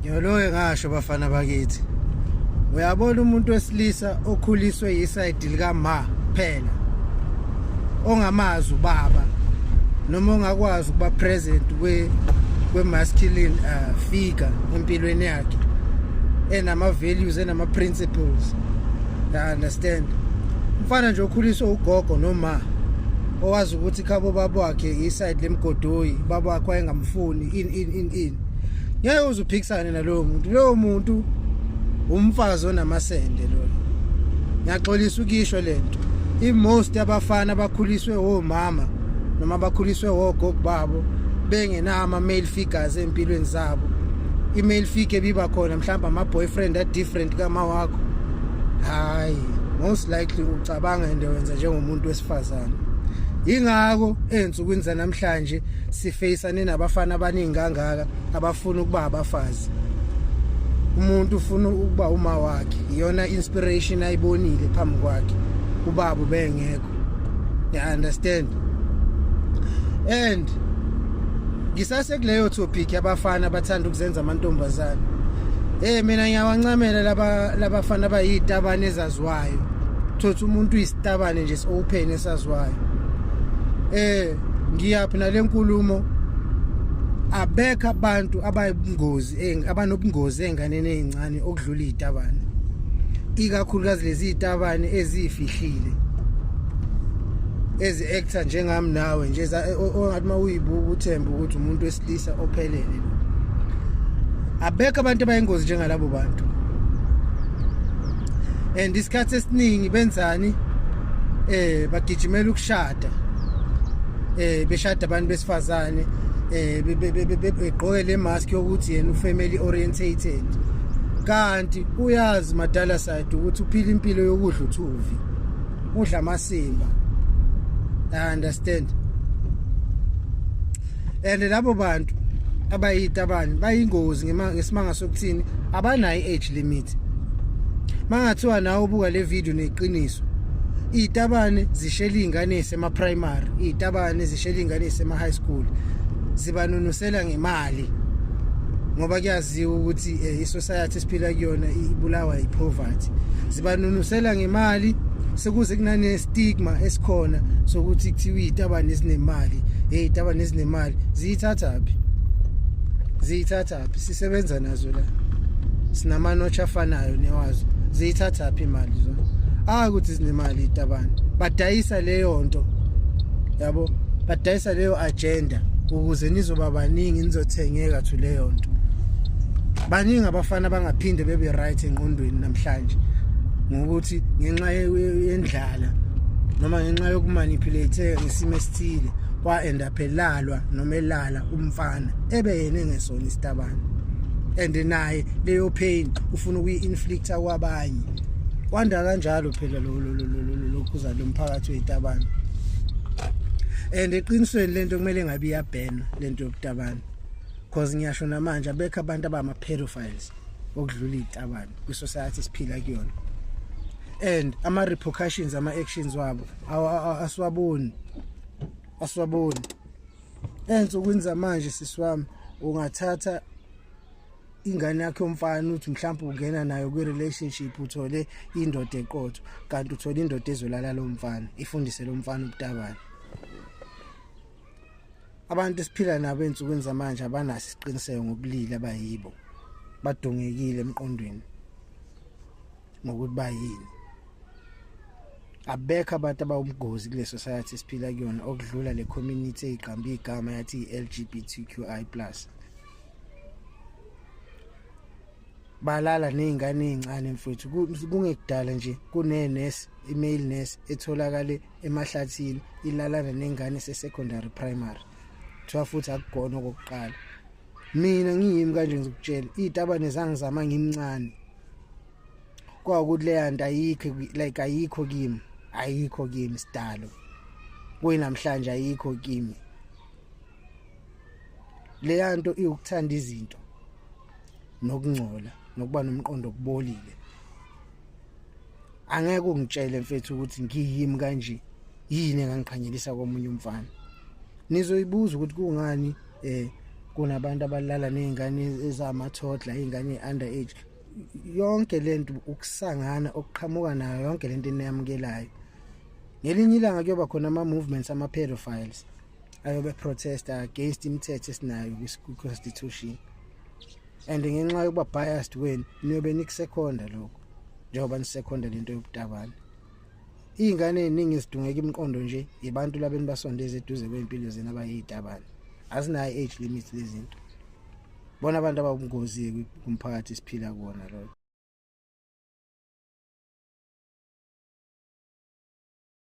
Yoloye ngasho bafana bakithi. Uyabona umuntu wesilisa okhuliswe yisayidi lika ma phela. Ongamazi ubaba noma ongakwazi ukuba present kwe kwe masculine uh, figure empilweni yakhe enama values enama principles. I understand. Mfana nje okhuliswa ugogo noma owazi ukuthi khabo baba wakhe iside lemgodoyi baba wakhe wayengamfuni in in ngeke uzuphikisane nalowo muntu lowo muntu umfazi onamasende lona ngiyaxolisa ukisho lento imost abafana abakhuliswe omama noma bakhuliswe ogogo babo bengenama male figures empilweni zabo i-male figure biba khona mhlawumbe ama-boyfriend a-different kama wakho hhayi most likely ucabanga into wenza njengomuntu wesifazane yingakho ey'nsukwini zanamhlanje sifeyisa Ninabafana abaningi kangaka abafuna ukuba abafazi. Umuntu ufuna ukuba uma wakhe. Iyona inspiration ayibonile phambi kwakhe. Ubaba bengekho. You understand? And ngisase kuleyo topic abafana abathanda ukuzenza amantombazane. Eh mina ngiyawancamela laba labafana abayitabane esaziwayo thothi umuntu uyisitabane nje si-open esaziwayo eh ngiyaphi nalenkulumo abekho abantu abayingozi eh, abanobungozi enganeni ezincane okudlula izitabane ikakhulukazi lezi zitabane ezifihlile ezi actor njengami nawe nje ongathi mawuyibuka uthemba ukuthi umuntu Isa ophelele lo. Abekho abantu abayingozi njengalabo bantu. And isikhathi esiningi benzani eh bagijimela ukushada. Eh beshada abantu besifazane eh begqoke le mask yokuthi yena ufamily orientated. Kanti uyazi madala side ukuthi uphila impilo yokudla uthuvi. Udla amasimba. I understand. and labo bantu abayitabani bayingozi ngesimanga sokuthini abanayo i-age limit mangathiwa nawe ubuka le video neqiniso iy'tabane zishela iy'ngane ey'sema-primary iy'tabane zishela iy'ngane ey'sema-high school zibanunusela ngemali ngoba kuyaziwa ukuthi um eh, i-society esiphila kuyona ibulawa yipoverty zibanunusela ngemali sekuze kunane stigma esikhona sokuthi kuthiwa izitabane ezinemali hey izitabane ezinemali ziyithathaphi ziyithathaphi sisebenza nazo la sinamanotsha afanayo newazo ziyithathaphi imali zona ah ukuthi zinemali izitabane badayisa leyo nto yabo badayisa leyo agenda ukuze nizoba baningi nizothengeka to leyo nto baningi abafana bangaphinde bebe right engqondweni namhlanje ngokuthi ngenxa yendlala noma ngenxa yokumanipulate ngesimo esithile wa-end up elalwa noma elala umfana ebe yena engesona isitabane and naye leyo pain ufuna ukuyi-inflicta kwabanye kwanda kanjalo phela lokhuza lo mphakathi weyitabane and eqinisweni lento kumele ngabe iyabhena lento yobutabane cause ngiyasho namanje abekho abantu abama pedophiles okudlula izitabane kwi society siphila kuyona and ama repercussions ama actions wabo asiwaboni asiwaboni ensukwini zamanje sisi wami ungathatha ingane yakhe yomfana uthi mhlawumbe ungena nayo kwi-relationship uthole indoda eqotho kanti uthole indoda ezolala lo mfana ifundise lo mfana ubutabane abantu esiphila nabo ensukwini zamanje abanaso isiqiniseko ngobulili abayibo badongekile emqondweni ngokuthi bayini abekho abantu abawumgozi kule society siphila kuyona okudlula le community eyiqamba igama yathi i-LGBTQI+ balala nezingane ezincane mfethu kungekudala nje kunenurse imale nurse etholakale emahlathini ilalana nengane sesecondary primary kuthiwa futhi akugona okokuqala mina ngiyimi kanje ngizokutshela iy'tabane zangizama ngimncane kwawukuthi leya nto ayikho like ayikho kimi ayikho kimi sidalo kuyinamhlanje ayikho kimi leya nto iwukuthanda izinto nokungcola nokuba nomqondo okubolile angeke ungitshele mfethu ukuthi ngiyimi kanje yini engangiqhanyelisa komunye umfana nizoyibuza ukuthi kungani eh kunabantu abalala nezingane ezamathodla izingane under age yonke lento ukusangana okuqhamuka nayo yonke lento eniyamukelayo ngelinye ilanga kuyoba khona ama movements ama pedophiles ayobe protesta against imithetho esinayo kwi-constitution and ngenxa yokuba biased kwenu niyobe nikusekhonda lokho njengoba nisekhonda lento yobutabane iy'ngane ey'ningi zidungeka imiqondo nje yibantu labeni basondeza eduze kwey'mpilo zena abayiyitabane azinayo i-age limit lezinto bona abantu ababungozi-ke kumphakathi esiphila kuwona loyo